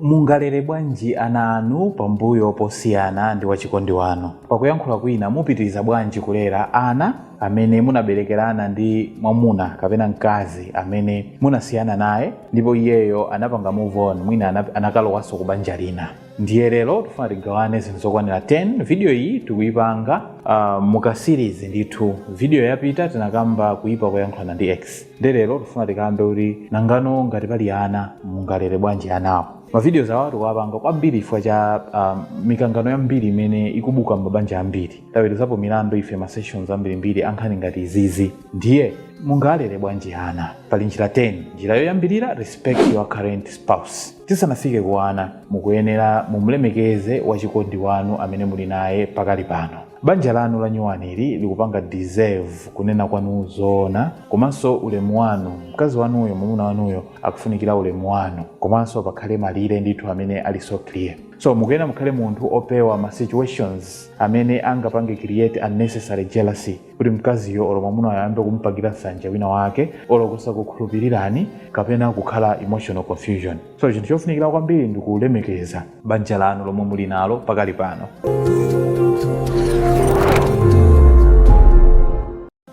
Mungalere bwanji ana anu pambuyo posiyana ndi wachikondi wanu? Pakuyankhula kwina, mupitiriza bwanji kulera ana amene munaberekerana ndi mwamuna kapena mkazi amene munasiyana naye ndipo iyeyo anapanga move on mwina anakalowanso ku banja lina? Ndiye lero tifuna tigawane zinthu zokwanira 10. Video iyi tikuyipanga uh, mu ka series ndithu. Video yapita tinakamba kuyipa koyankhulana ndi ex. nde lero tifuna tikambe kuti nangano ngati pali ana mungalere bwanji anawo mavideos awa tikuwapanga kwambiri chifukwa cha um, mikangano yambiri imene ikubuka m'mabanja ambiri taweruzapo milandu ife ma sessions ambirimbiri ankhani ngati izizi ndiye mungalere bwanji ana pali njira 10 njira yoyambirira respect your current spouse tisanafike ku ana mukuyenera mumlemekeze wachikondi wanu amene muli naye pakali pano Banja lanu lanyuwani ili likupanga deserve kunena kwanu zoona komanso ulemu wanu. Mkazi wanuyo, mwamuna wanuyo akufunikira ulemu wanu komanso pakhale malire ndithu amene ali so clear. So mukuyenera mukhale munthu opewa ma situations amene angapange create unnecessary jealousy kuti mkaziyo olo mwamunayo ayambe kumupangira nsanje wina wake olo kusakukhulupirirani kapena kukhala emotional confusion. So chinthu chofunikira kwambiri ndi kulemekeza banja lanu lomwe muli nalo pakali pano.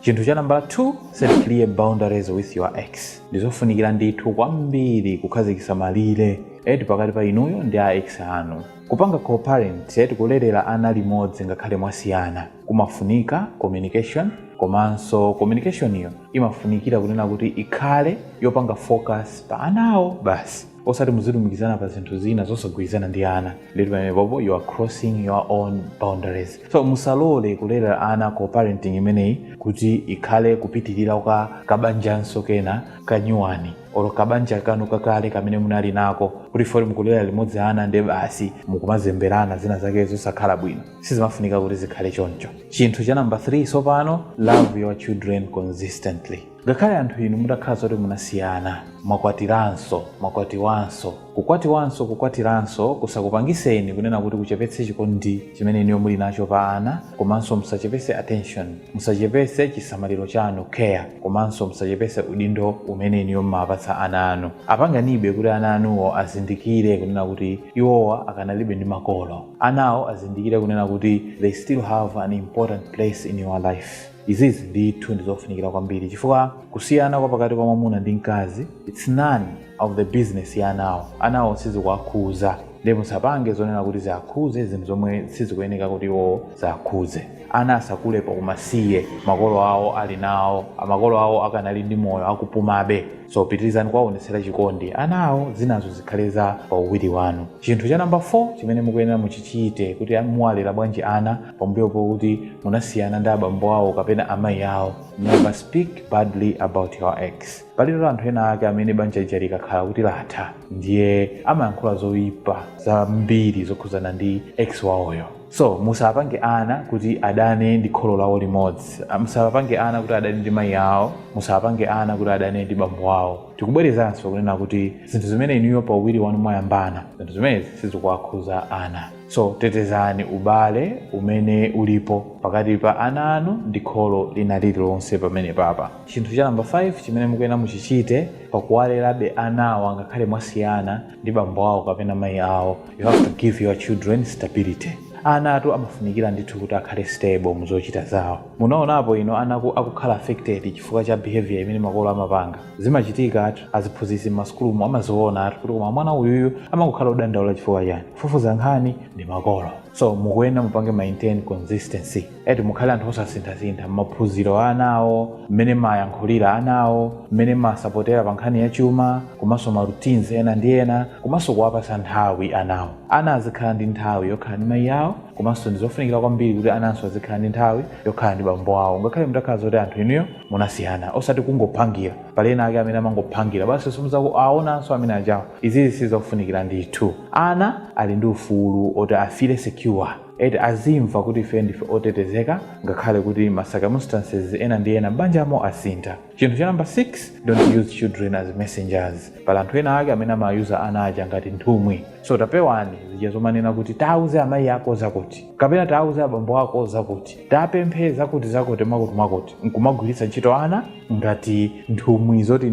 Chinthu cha nambala 2, set clear boundaries with your ex. Ndizofunikira ndithu kwambiri kukhazikitsa malire eti pakati pa inuyo ndi a ex anu. Kupanga co-parent eti kulerera ana limodzi ngakhale mwasiyana kumafunika communication komanso communicationiyo imafunikira kunena kuti ikhale yopanga focus pa anawo basi osati muzilumikizana pa zinthu zina zosagwirizana ndi ana eti pamenepopo you are crossing your own boundaries so musalole kulera ana co parenting imeneyi kuti ikhale kupitirira kwa kabanjanso kena kanyuwani olo kabanja kanu kakale kamene munali nako kuti poti mukulera limodzi ana nde basi mukumazemberana zina zake zosakhala bwino sizimafunika kuti zikhale choncho chinthu cha namba 3 tsopano love your children consistently ngakhale anthu inu mutakhala zoti munasiyana mwakwatiranso mwakwatiwanso kukwatiwanso kukwatiranso kusakupangiseni kunena kuti kuchepetse chikondi chimene inuyo muli nacho pa ana komanso musachepetse attention Musachepese chisamaliro chanu, care, komanso musachepese udindo umene inuyo mumawapatsa ana anu. Apangenibe kuti ana anuwo azindikire kunena kuti iwowa akanalibe ndi makolo. Anawo azindikire kunena kuti they still have an important place in your life. Izizi ndithu ndizofunikira kwambiri chifukwa kusiyana kwa pakati kwa mwamuna ndi mkazi it's none. of the business ya anawo anawo sizikuwakhuza nde musapange zonena kuti ziakhuze zinthu zomwe sizikuyeneka kuti iwo ziakhuze ana asakulepo pakumasiye makolo awo ali nawo makolo awo akadali ndi moyo akupumabe so pitirizani kuwaonetsera chikondi anawo zinazo zikhale za pauwiri wanu chinthu cha namba 4 chimene mukuyenera muchichite kuti muwalera bwanji ana pambuyo pokuti munasiyana ndi abambo awo kapena amayi awo never speak badly about your ex Palipo anthu ena ake amene banja lija likakhala kuti latha ndiye amayankhula zoipa zambiri zokhudzana ndi ex wawoyo so musapange ana kuti adane ndi kholo lawo limodzi Ah, musapange ana kuti adane ndi mayi awo musapange ana kuti adane ndi bambo wawo tikubwerezanso kunena kuti zinthu zimene inuyo pauwiri wanu mwayambana zinthu zimenezi sizikuwakhuza ana so tetezani ubale umene ulipo pakati pa ana anu ndi kholo lina lililonse pamenepapa chinthu cha namba 5 chimene mukuyenera muchichite pakuwalerabe anawa ngakhale mwasiyana ndi bambo awo kapena mayi awo you have to give your children stability anatu amafunikira ndithu kuti akhale stable mu zochita zawo munaonapo inu ana aku- akukhala affected chifukwa cha behavior imene makolo amapanga zimachitikatu aziphunzitsi m'masukulumu amazionatu kuti koma mwana uyuyu amangokhala odandaula chifukwa chani kufufuza nkhani ndi makolo so mukuyenera mupange maintain consistency eti mukhale anthu osasinthasintha m'maphunziro a anawo mmene mayankhulira anawo mmene masapotera pa nkhani ya chuma komanso ma routines ena ndi ena komanso kuwapasa nthawi anawo ana azikhala ndi nthawi yokhala ndi mayi awo komanso ndizofunikira kwambiri kuti ananso azikhala ndi nthawi yokhala ndi bambo awo ngakhale mutakhala zoti anthu inuyo munasiyana osati kungophangira pali ena ake amene amangophangira basi simuzakawaonanso amenewa anawo izizi sizofunikira ndithu ana ali ndi ufulu oti afeele secure eti azimva kuti ife ndife otetezeka ngakhale kuti ma circumstances ena ndi ena m'banjamo asintha chinthu cha namba 6 don't use children as messengers pali anthu ena ake amene amayusa ana aja ngati nthumwi so tapewani zija zomanena kuti tauze amayi ako zakuti kapena tauze abambo ako zakuti tapemphe zakutizakuti mwakutimwakuti nkumagwiritsa ntchito ana ngati nthumwi eti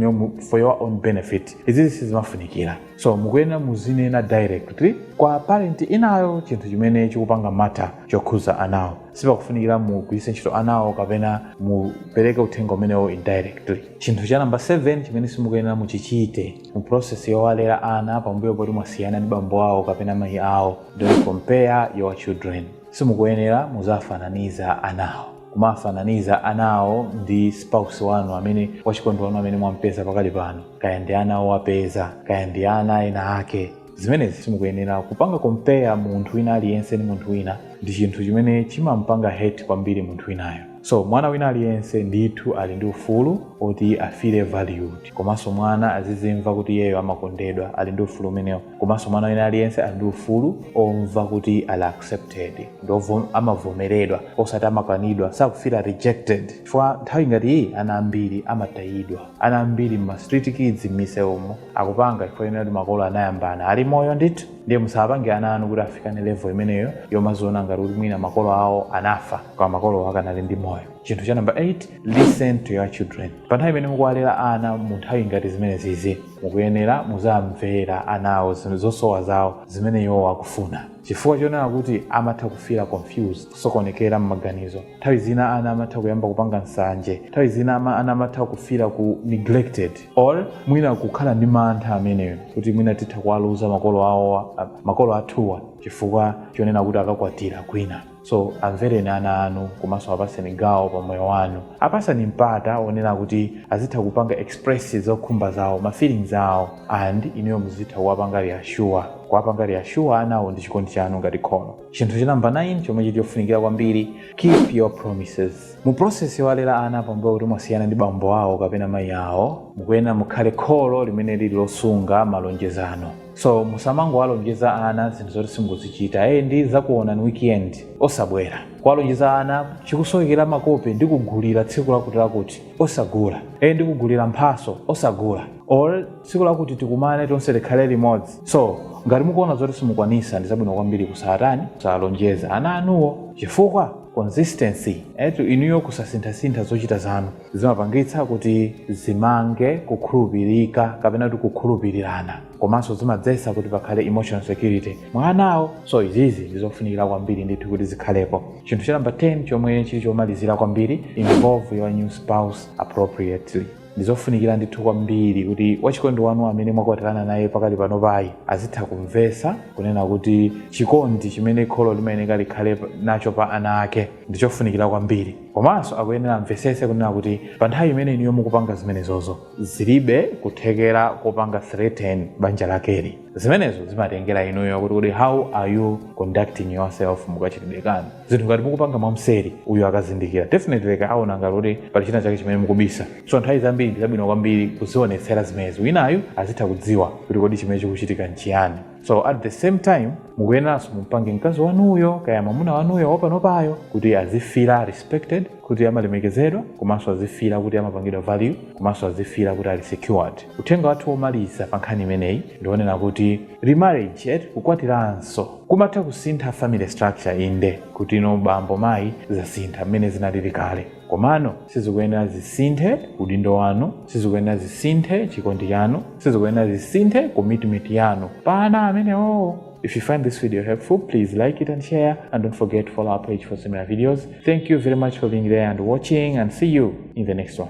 for your own benefit izizi sizimafunikira so mukuyenera muzinena directly kwa parent inayo chinthu chimene chikupanga mata chokhuza anawo sipakufunikira mugwiritse ntchito anawo kapena mupereke uthenga umenewo indirectly chinthu cha namba 7 chimene simukuyenera muchichite mu process yowalera ana pambuyo poti mwasiyana ndi bambo awo kapena mayi awo don't compare your children simukuyenera muziwafananiza anawo kumafananiza anawo ndi spouse wanu amene wachikondi wanu amene mwampeza pakali pano kaya ndi ana owapeza kaya ndi ana ena ake zimenezi simukuyenera kupanga compare munthu wina aliyense ndi munthu wina ndi chinthu chimene chimampanga hate kwambiri munthu winayo so mwana wina aliyense ndithu ali ndi ufulu oti afeele valued komanso mwana azizimva kuti iyeyo amakondedwa ali ndi ufulu umenewo komanso mwana wina aliyense ali ndi ufulu omva kuti ali accepted ndipo amavomeredwa osati amakanidwa asafeele rejected chifukwa nthawi ngati iyi ana ambiri amatayidwa ana ambiri mma street kids mmisewumo akupanga chifukwa chonena kuti makolo anayambana ali moyo ndithu ndiye musapange ana anu kuti afikane level imeneyo yomaziona ngati kuti mwina makolo awo anafa koma makolo akadali ndi moyo chinthu cha namba 8 listen to your children pa nthawi imene mukuwalera ana mu nthawi ngati zimenezizi mukuyenera muziwamvera anawo zinthu zosowa zawo zimene iwo akufuna chifukwa chonena kuti amatha kufeela confused kusokonekera m'maganizo nthawi zina ana amatha kuyamba kupanga nsanje nthawi zina ama- ana amatha kufeela neglected or mwina kukhala ndi mantha onena kuti mwina titha kuwaluza makolo awowa a- makolo athuwa chifukwa chonena kuti akakwatira kwina so amvereni ana anu komanso apatseni gawo pa moyo wanu apatseni mpata onena kuti azitha kupanga express zokhumba zawo ma feelings awo and inuyo muzitha kuwapanga reassure kuwapanga reassure anawo ndi chikondi chanu ngati kholo chinthu cha namba 9 chomwe chili chofunikira kwambiri keep your promises mu process yowalera ana pambuyo kuti mwasiyana ndi bambo awo kapena mayi awo mukuyenera mukhale kholo limene lili losunga malonjezano so musamangowalonjeza ana zinthu zoti simukuzichita eye ndizakuonani weekend osabwera kuwalonjeza ana ukusowekera makope ndikugulira tsiku lakuti lakuti osagula eye ndikugulira mphatso osagula or tsiku lakuti tikumane tonse tikhale limodzi so ngati mukuona zoti simukwanitsa ndi zabwino kwambiri kusatani kusalonjeza ana anuwo chifukwa consistency yanu inuyo kusasinthasintha zochita zanu Zimapangitsa kuti zimange kukhulupirika kapena kuti kukhulupirirana komanso zimadzetsa kuti pakhale emotional security mwa anawo. So izizi ndi zofunikira kwambiri ndithu kuti zikhalepo. Chinthu cha number 10 chomwe chili chomalizira kwambiri, involve your new spouse appropriately. Ndi zofunikira ndithu kwambiri kuti wachikondi wanu amene mwakwatirana naye pakali panopayi azitha kumvetsa kunena kuti chikondi chimene kholo limayeneka likhale nacho pa ana ake ndi chofunikira kwambiri. komanso akuyenera amvetsetse kunena kuti pa nthawi imene inuyo mukupanga zimenezozo zilibe kuthekera kopanga threaten banja lakeli zimenezo zimatengera inuyo kuti kodi how are you conducting yourself mukachitidwe kanu ka zinthu ngati mukupanga mwamseri uyu akazindikira definitely aona ngati kuti pali china chake chimene mukubisa so nthawi zambiri ndi zabwino kwambiri kuzionetsera zimenezo winayu azitha kudziwa kuti kodi chimene chikuchitika nchiyani so at the same time mukuyeneranso mumpange mkazi wanuyo kaya mwamuna wanuyo wapanopayo kuti azifila respected kuti amalemekezedwa komanso azifila kuti amapangidwa value komanso azifila kuti ali secured uthenga wathu womaliza pa nkhani imeneyi ndi wonena kuti remarriage kukwatiranso kumatha kusintha family structure inde kuti no bambo mayi zasintha mmene zinalili kale Komano sizikuyenera zisinthe udindo wanu, sizikuyenera zisinthe chikondi chanu, sizikuyenera zisinthe commitment yanu pa ana amenewo. If you find this video helpful, please like it and share. And don't forget to follow our page for similar videos. Thank you very much for being there and watching, and see you in the next one.